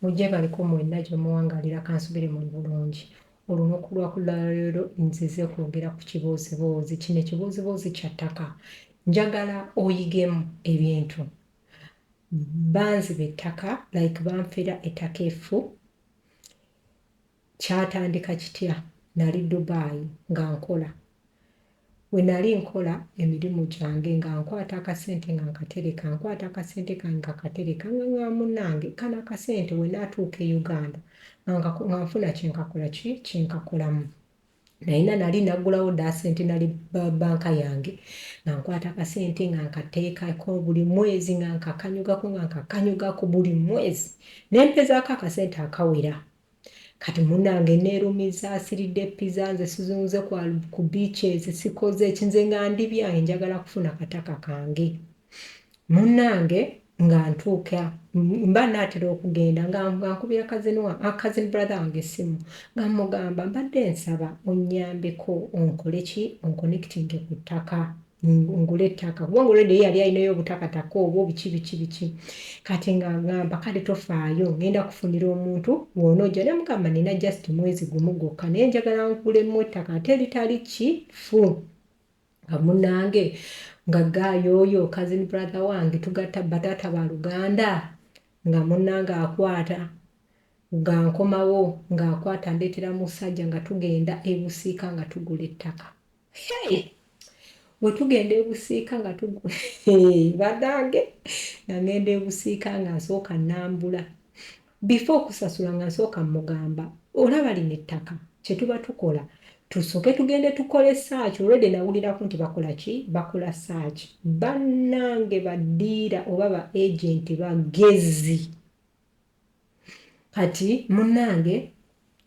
mujje baliko mwenna gye muwangalira kansubire muli bulungi olunaku lwakulaleero nzize kwogera ku kibooziboozi kino ekibooziboozi kya ttaka njagala oyigemu ebintu banziba ettaka like banfera ettaka effu Kyatandika kitya? Nali Dubai nga nkola. We nali nkola emirimu gyange nga nkwata akasente nga nkatereka, nkwata akasente kange nga katereka nga nga munnange kano akasente we natuuka e Uganda nga nga nfuna kye nkakola ki kye nkakolamu. Nayina nali nagulawo dda centenary ba- banka yange nga nkwata akasente nga nkateekako buli mwezi nga nkakanyugako nga nkakanyugako buli mwezi ne mpezaako akasente akawera Kati munange nerumiza asiridde pizza nze sizunze kwa ku beaches sikoze ki nze nga ndi byange njagala kufuna kataka kange munange nga ntuuka mba naatera okugenda nga nkubira kazini wa kazini brother wange essimu nga mugamba mbadde nsaba onnyambeko onkole ki onkonectinge ku ttaka ngule ettaka kubanga olwedde ye yali alinayo obutakataka obwo biki biki biki kati nga ngamba kale tofaayo ngenda kufunira omuntu woonoojja ne mugamba nina just mwezi gumu gwokka naye njagala nkulemu ettaka ate litali kifu nga munange nga gaayo oyo kazini brother wange tugatta bataata ba luganda nga munange akwata nga nkomawo ng'akwata ndeetera musajja nga tugenda ebusiika nga tugula ettaka hey! wetugenda ebusiika nga tugula badange nagenda ebusiika nga nsooka nambula bifa okusasula nga nsooka mugamba olaba lino ettaka kyetuba tukola tusoke tugende tukole saaki olwedde nawuliraku nti bakola ki bakola saaki bannange badiira oba ba agenti bagezi kati munange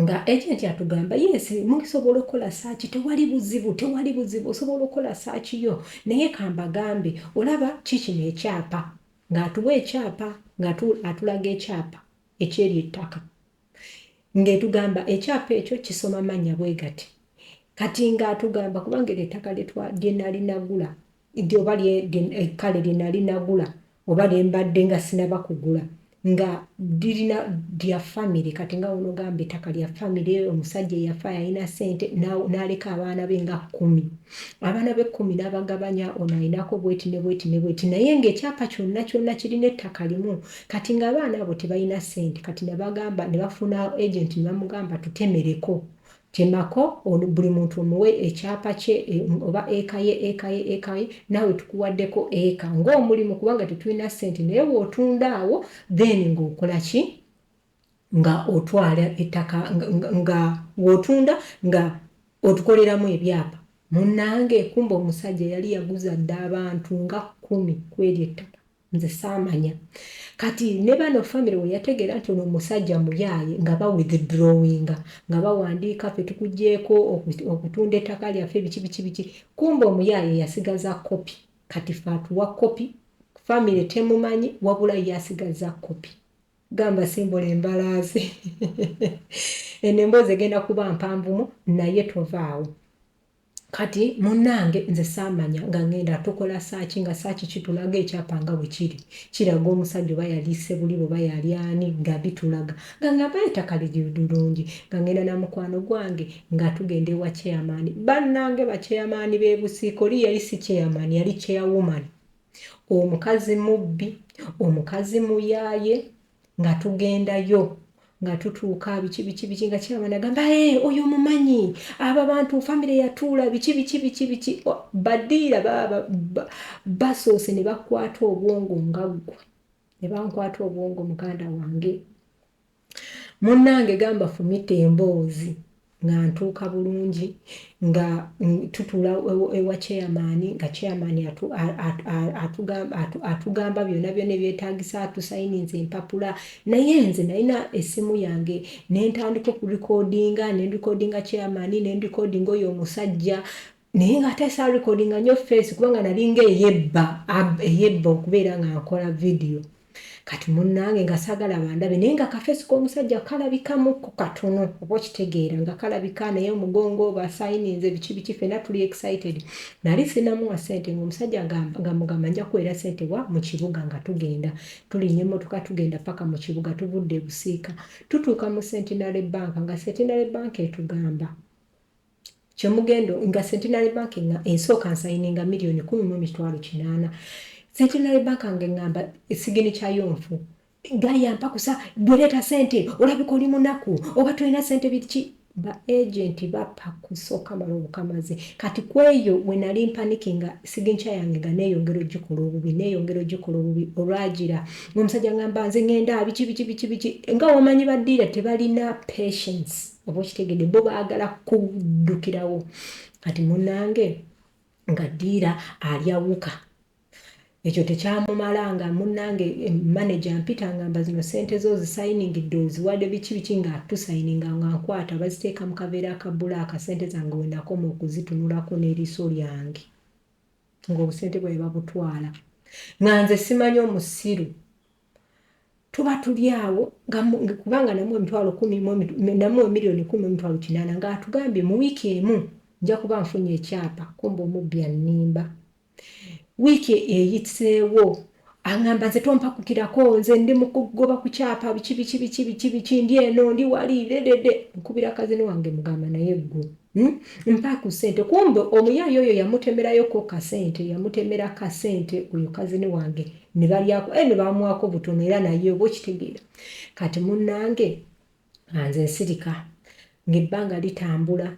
nga agent atugamba yes musobola okukola saaki tewali buzibu tewali buzibu osobola okukola saaki yo naye kambagambe olaba kikino ekyapa ng'atuwa ekyapa ng'atulaga ekyapa ekyeri ettaka ng'etugamba ekyapa ekyo kisoma mannya bwe gati kati ng'atugamba kubanga eryo ettaka lyenali nagula Nti oba lye, kale lye nali nagula oba lye mbadde nga sinaba kugula nga lirina lya family kati nga ono gamba etaka lya family omusajja eyafa yalina sente naleka abaana be nga kumi abaana be kumi nabagabanya ono alinako bweti ne bweti ne bweti naye nga ekyapa kyonna kyonna kirina ettaka limu kati nga abaana abo tebalina sente kati nabagamba nebafuna agent nebamugamba tutemereko Temako ono buli muntu omuwe ekyapa kye oba eka ye eka ye eka ye naawe tukuwaddeko eka ng'omulimu kubanga tetulina ssente naye w'otunda awo then ng'okola ki nga otwala ettaka nga w'otunda nga otukoleramu ebyapa munnange kumbe omusajja yali yaguza dda abantu nga kkumi kw'eryo ettaka. nze saamanya kati ne bano famire we yategeera nti ono omusajja muyaaye nga ba withdrawinga nga bawandiika fe tukugyeko okutunda ettaka lyaffe biki biki biki kumba omuyaaye yasigaza kopi kati fe atuwa kopi famire temumanyi wabula yasigaza kopi gamba simbola embalaazi eno emboozi egenda kuba mpanvumu naye tovaawo Kati munange nze saamanya nga ngenda tukola saaki nga saaki kitulaga ekyapa nga bwe kiri kiraga omusajja oba yali Ssebuliba oba yali ani nga bitulaga nga ngamba ettaka liri lulungi nga ngenda na mukwano gwange nga tugenda ewa chairman bannange ba chairman b'e Busiika oli yali si chairman yali chairwoman omukazi mubbi omukazi muyaaye nga tugendayo nga tutuuka biki biki biki nga kiraba nagamba ee eh, oyo mumanyi abo abantu famire yatuula biki biki biki biki badiira basoose ne bakwata obwongo nga ggwe ne bankwata obwongo muganda wange munnange gamba fumita emboozi nga ntuuka bulungi nga tutuula ewa chairman nga chairman atugamba byona byona ebyetagisa atusayininza empapula naye nze nalina essimu yange nentandika okulikodinga nendikodinga chairman nendikodinga oyo omusajja naye nga ate sa recordinga nyo face kubanga nalinga eyebba eyebba okubeera nga nkola video kati munange nga sagala bandabe naye nga kafesi komusajja kalabikamuku katono oba okitegeera nga kalabika naye omugongo basayininze biki biki fena tuli excited nali sinamuwa sente ngaomusajja nga mugamba nja kuwera sente wa mu kibuga nga tugenda tulinya emotoka tugenda paka mu kibuga tuvudde ebusiika tutuuka mu centenary bank nga centenary bank etugamba kyemugendo nga centenary bank nga ensooka nsayininga miliyoni kumi mu emitwalo kinaana centenary bank nga eŋŋamba esigini kyayo nfu gayampa kusa bwereeta sente olabika oli munaku oba tolina sente biki ba agenti bappa kusooka mala obukamazi kati ku eyo we nali mpaniki nga siginkya yange nga neeyongera ogikola obubi neeyongera ogikola obubi olwagira ngaomusajja ngamba nze ŋenda biki biki biki biki nga wamanyi badiira tebalina patience oba okitegedde bo baagala kuddukirawo kati munange nga diira alyawuka ekyo tekyamumala nga munange eh, manaja mpita ngamba zino sente zo zisayiningidde oziwade biki biki nga tusayininga nga nkwata baziteeka mu kaveera akabula akasente zange wenakoma okuzitunulako n'eriiso lyange ng'obusente bwawe babutwala nga nze simanyi omusiru tuba tuli awo kubanga namu emitwalo kumi namu emiliyoni kumi emitwalo kinaana nga atugambye mu wiiki emu nja kuba nfunye ekyapa kumba omubbi annimba wiiki eyitseewo aŋamba nze tompakukirako nze ndi mukugoba ku kyapa biki biki biki biki biki ndi eno ndi wali ledede nkubira kazini wange mugamba naye gwe Hmm? mpa ku sente kumbe omuyaye oyo yamutemerayoko kasente yamutemera kasente oyo kazini wange nebalyako e eh, nebamwako butono era naye oba okitegeera kati munange anze nsirika ngaebbanga litambula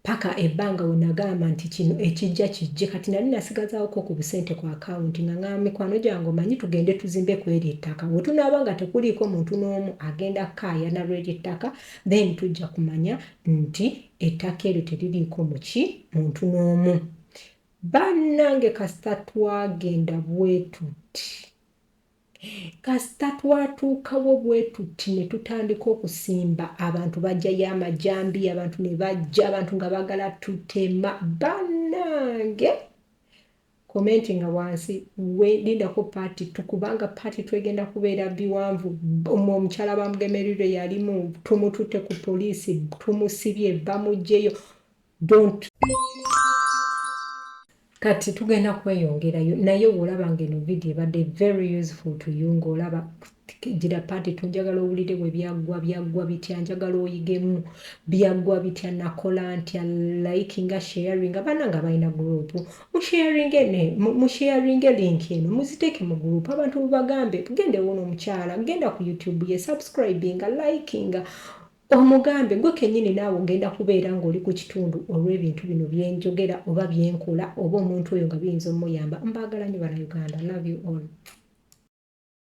paka ebbanga wenagamba nti kino ekijja kijje kati nali nasigazawoko ku busente ku akawunti nga nga mikwano gyange omanyi tugende tuzimbe kweri ettaka wetunaaba nga tekuliiko muntu n'omu agenda kaayana lweri ettaka then tujja kumanya nti ettaka eryo teririiko muki muntu n'omu bannange kasita twagenda bwetuti kasita twatuukawo bwetuti ne tutandika okusimba abantu bajjayo amajambi abantu ne bajja abantu nga bagala tutema bannange Commentinga wansi we lindako part two kubanga part two egenda kubeera biwanvu mwe omukyala bamugemerirwe yalimu tumututte ku police tumusibye bamujjeyo don't kati tugenda kweyongerayo naye wolaba nga eno video ebadde very useful to you ng'olaba Gira part tu njagala owulire bwe byaggwa byaggwa bitya njagala oyigemu byaggwa bitya nakola ntya likinga sharinga banange abalina group musharinge ne musharinge link eno muziteeke mu group abantu bubagambe genda ewona omukyala genda ku youtube ye subscribinga likinga omugambe gwe kenyini naawe ogenda kubeera ng'oli ku kitundu olw'ebintu bino byenjogera oba byenkola oba omuntu oyo nga biyinza omuyamba mbaagala nyo bana uganda love you all